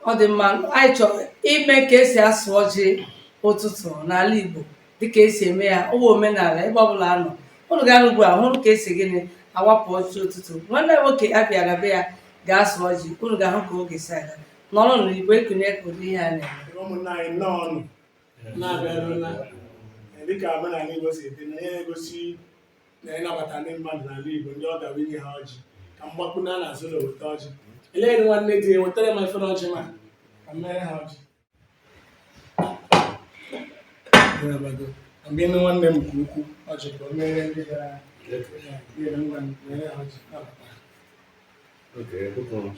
ọ dị mma anyị chọrọ ime ka esi asụ ọjị ụtụtụ n'ala Igbo dịka esi eme ya ọ wụ omenala ebe ọbụla a nọ ụnụ ga-ahụ ugbu a hụrụ ka esi gịnị awapụ ọjị ụtụtụ nwanne m nwoke a bịara be ya ga-asụ ọjị ụnụ ga-ahụ ka oge si aga n'ọrụ na Igbo ekunye ka ụdị ihe a na-eme ụmụnna anyị nnọọ nụ na-abịaru na dịka omenala Igbo si dị na ihe na-egosi na ịnabata ndị mmadụ n'ala Igbo ndị ọbịa bụ inye ha ọjị ka m gbakpuo na n'azụ na-eweta ọjị elee nwanne di ya wetara m efere ọjị ma ka m mere ha ọjị mgbe ịnụ nwanne m nke ukwu ọjị ka o mere ndị gara aga ngwa mere ha ọjị Okay, good one.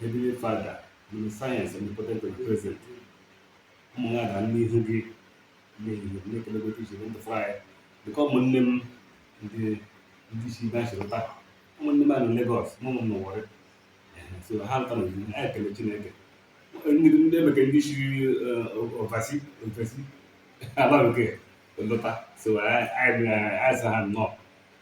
Heavenly Father, omniscience omnipotent omnipresent, ụmụ ya ga n'ihu gị n'ehihie na-ekele gị iji ndụ fụrụ anyị dịka ụmụnne m ndị ndị si na nchịrịta ụmụnne m a na Legọs ụmụ m n'Owere so ha lọta na anyị ekele Chineke ndị ndị emeke ndị si ovasi ovasi ala bekee lọta so anyị anyị anyị sị ha nnọọ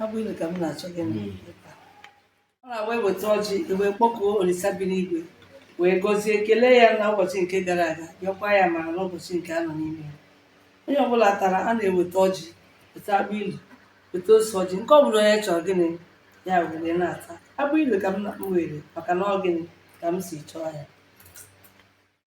agbụ ilu ka m na-achọ gịnị hmm. ọ na-abụ eweta ọjị ewee kpọkuo Olisa bi n'igwe wee gọzie kelee ya na ụbọchị nke gara aga yọọkwa ya amara n'ụbọchị nke a nọ n'ime ya onye ọbụla tara a na-eweta ọjị weta agbụ ilu weta ose ọjị nke ọ bụla onye chọrọ gịnị ya were na-ata agbụ ilu ka m were maka na ọ gịnị ka m si chọọ ya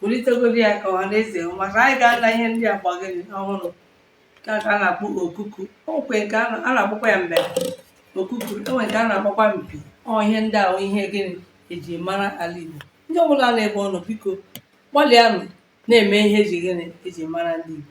bulitegodi ya ka ọha na eze hụ maka anyị ga-ala ihe ndị a gbagịrị ọhụrụ ka ka a na-akpọ okuku okwe nke a na- a na-akpọkwa ya mbere okuku enwe nke a na-akpọkwa mpi ọ ihe ndị a wụ ihe gịnị eji mara ala Igbo ndị ọbụla n'ebe ọ nọ biko gbalịanụ na-eme ihe eji gịnị eji mara ala Igbo